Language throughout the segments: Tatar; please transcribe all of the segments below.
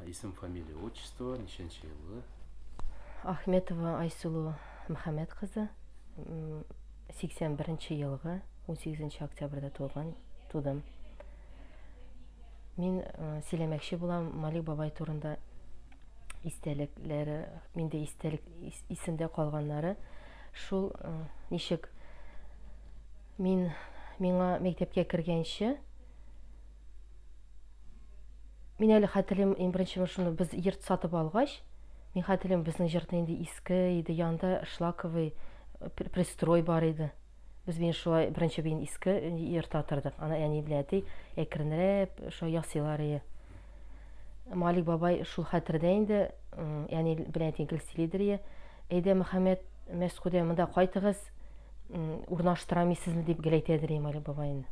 Исем, фамилия, отчество, ничәнче еллы? Ахметова Айсулу Мөхәммәт кызы, 81 елгы, 18 октябрьдә туган, тудым. Мин э, сөйләмәкче булам Малик бабай турында истәлекләре, миндә истәлек исемдә калганнары. Шул э, ничек мин миңа мәктәпкә кергәнче Мин әле хәтерлим, иң беренче шуны без йорт сатып алгач, мин хәтерлим, безнең йортны инде иске иде, янда шлаковый э, пристрой бар иде. Без мин шулай беренче бин иске йортта тордык. Ана әни белән әти әкренрәп шулай ясыйлар иде. Малик бабай шул хәтердә инде, әни белән әти гел сөйлидер иде. Әйдә, Мөхәммәд, Мәскүдә монда кайтыгыз, урнаштырамы сезне дип гел әйтәдер иде Малик бабай инде.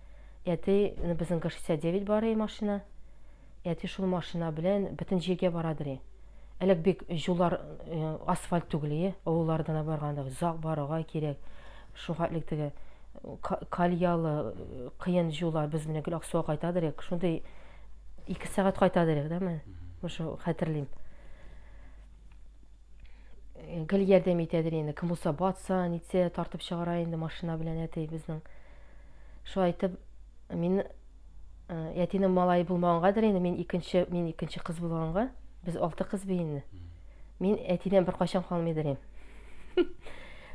Әти, ну безнең гы 69 бар и машина. Әти шул машина белән бөтен җиргә бара дери. Әлек бик җулар асфальт түгел и, авыллардына барганда озак баруга кирәк. Шул хәтлек теге кальялы кыен җулар без менә гел Аксуга кайта дирек. Шундый 2 сәгать кайта дирек, да мен. Шул хәтерлим. гел ярдәм итәдер инде кем булса батса нитсә тартып чыгара инде машина белән әти безнең шулай итеп мин әтинең малае булмагангадыр инде мин икенче мин икенче кыз булганга без алты кыз бит инде мин әтидән беркайчан калмыйдыр инде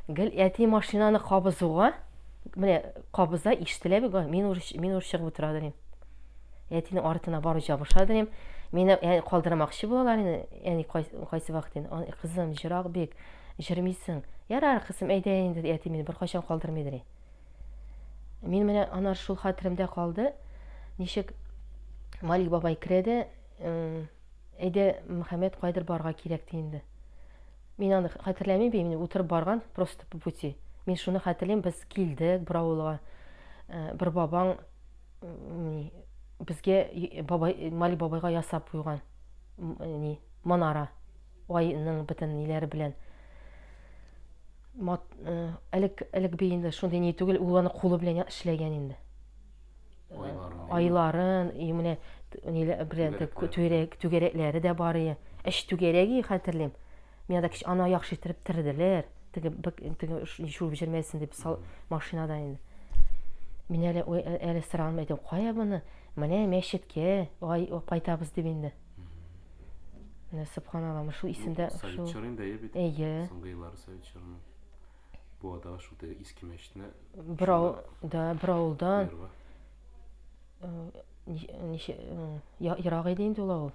гел әти машинаны кабызуга менә кабыза ишетелә бит мин ур мин ур чыгып утырадыр инде Әтинең артына барып җабыша дим. Мине ә, калдырмакчы булалар инде. Әни кайсы вакыт инде. Аны, Кызым, җырак бик. Җырмыйсың. Ярар, кызым, әйдә инде, ди, әти мине беркайчан калдырмый ди. Мин менә анар шул хәтеремдә калды. Ничек Малик бабай керә дә, э, әйдә, Мөхәммәд кайдыр барга кирәк ди инде. Мин аны хәтерләмим бит, мин утырып барган просто по пути. Мин шуны хәтерлим, без килдек бер авылга. Э, Бер бабаң ни безгә бабай Мали бабайга ясап куйган ни манара айның бөтен ниләре белән мат, э, элек элек би инде шундый ни түгел, ул аны кулы белән эшләгән инде. Айларын, и менә ниләр белән түгәрәкләре дә бар ие. Эш түгәрәге хәтерлим. Миңа да кич ана яхшы иттереп терделәр. Теге бик теге шул җирмәсен дип сал машинада инде. Мин әле әле сыралым әйтәм, кая моны? Менә мәчеткә ай кайтабыз дип инде. Менә субханалла, шул исемдә шул. Совет чоры инде бит. Әйе. Соңгы еллары совет чоры. Бу ада шул теге иске мәчетне бер авыл, да, бер авылдан. Э, ничә э, ерак иде инде ул авыл.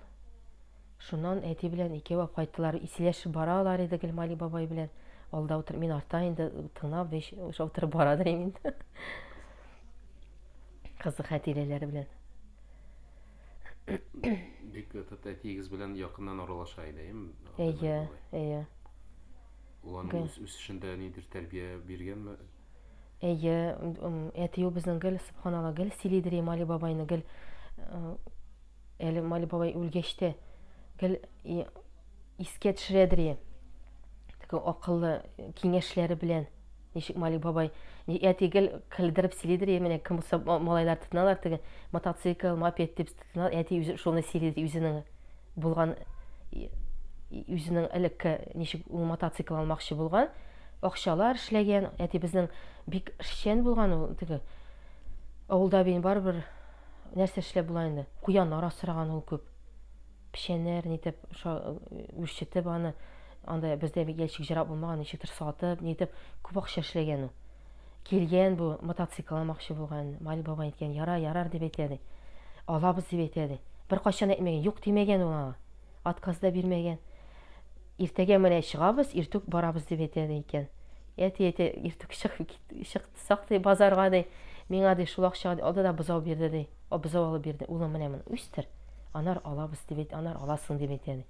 Шуннан әти белән икәү апкайттылар. Исиләшеп бара алар иде Гелмали бабай белән. Алда утыр, мин арта инде тыңнап, беш уша утырып бара дирем инде. Кызык хәтирәләре белән. Бик тот әтиегез белән якыннан аралаша иде, эм? Әйе, әйе. Ул аның үз үсешендә нидер тәрбия биргәнме? Әйе, әтиү безнең гел сыбханалла, гел сөйлидер Имали бабайны, гел Әле Мали бабай үлгәч тә гел искә төшерәдер ие. Теге акыллы киңәшләре белән ничек Мали бабай әти гел көлдереп сөйлидер ие. Менә кем булса малайлар тотыналар теге мотоцикл, мопед дип тотыналар. Әти үзе шуны сөйлидер үзенең булган үзенең элекке ничек ул мотоцикл алмакчы булган, акчалар эшләгән. Әти безнең бик эшчән булган ул теге. Авылда бин барыбер Нәрсә эшләп була инде? Куяннар асраган ул күп. Печәннәр нитеп үрчетеп аны, анда бездә ящик җырап булмаган, ничектер сатып, нитеп күп акча эшләгән ул. Килгән бу мотоцикл алмакчы булган. Мали бабай әйткән, яра, ярар дип әйтә ди. Алабыз дип әйтә ди. Бер кайчан әйтмәгән, юк димәгән ул аңа. Отказ да бирмәгән. Иртәгә менә чыгабыз, иртүк барабыз дип әйтә ди икән. Әти әйтә, иртүк чык, чык Сак, ди, базарга, ди, миңа, ди, шул акчага, ди, алды да бозау бирде, ди. О, бозау алып бирде. Улым, менә моны үстер, анар алабыз, дип әйт, анар аласың, дип әйтә, ди.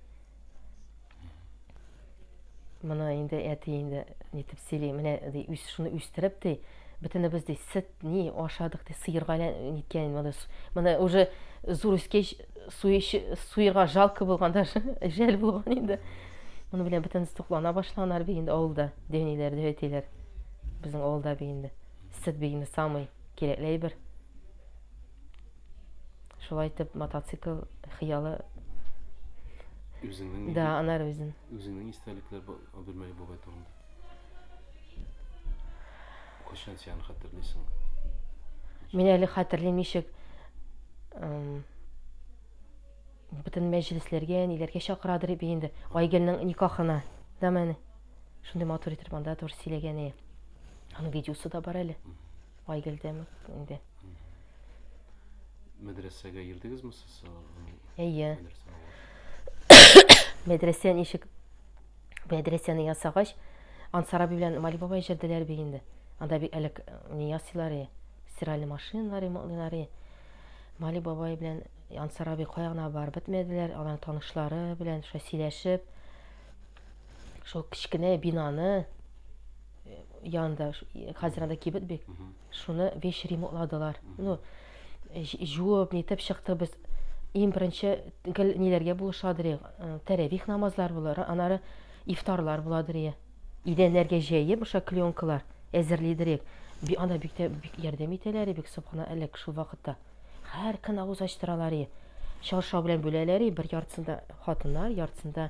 Моны инде әти инде нитеп сөйли, менә, ди, үс, шуны үстереп, ди, бөтенебез, ди, сөт, ни, ашадык, ди, сыерга ниткән, моны, моны уже зур үскәч, суерга жалко булган, даже жәл булган инде. Моны белән бөтенесе туклана башлаганнар бит инде авылда, дәниләр, дәүәтиләр. Безнең авылда бит инде сөт бигме самый кирәкле әйбер. Шулай итеп мотоцикл хыялы Үзеңнең да анар үзен. Үзеңнең истәлекләр Абдулмәли бабай турында. Кайчан син хәтерлисең? Мин әле хәтерлим ничек Бөтен мәҗлесләргә, ниләргә чакырадыр бит инде. Айгөлнең никахына. Да менә. Шундый матур итеп монда тур сөйләгән ие. Аның видеосы да бар әле. Айгөлдә инде. Мәдрәсәгә йөрдегезме сез? Әйе. Мәдрәсә ничек? Мәдрәсәне ясагач, Ансар абый белән Мали бабай җырдылар бит инде. Анда бик әлек не ясыйлар ие. Стиральный машиналар ремонтлыйлар ие. Мали бабай белән Ансар абый кая гына барып бетмәделәр, алар танышлары белән шулай сөйләшеп, шул кечкенә бинаны э, янында, хәзер анда кибет бик, шуны вещь ремонтладылар. Ну, жуып, нитеп чыктык без. Иң беренче гел ниләргә булышадыр, э, тәрәвих намазлар булыр, анары ифтарлар буладыр. Идәннәргә җәеп, ошо клеенкалар әзерлидер. Ана бик тә бик ярдәм итәләр, бик субхана әлек шул вакытта. Һәр көн авыз ачтыралар и. Чаршау белән бүләләр и, бер яртысында хатыннар, яртысында.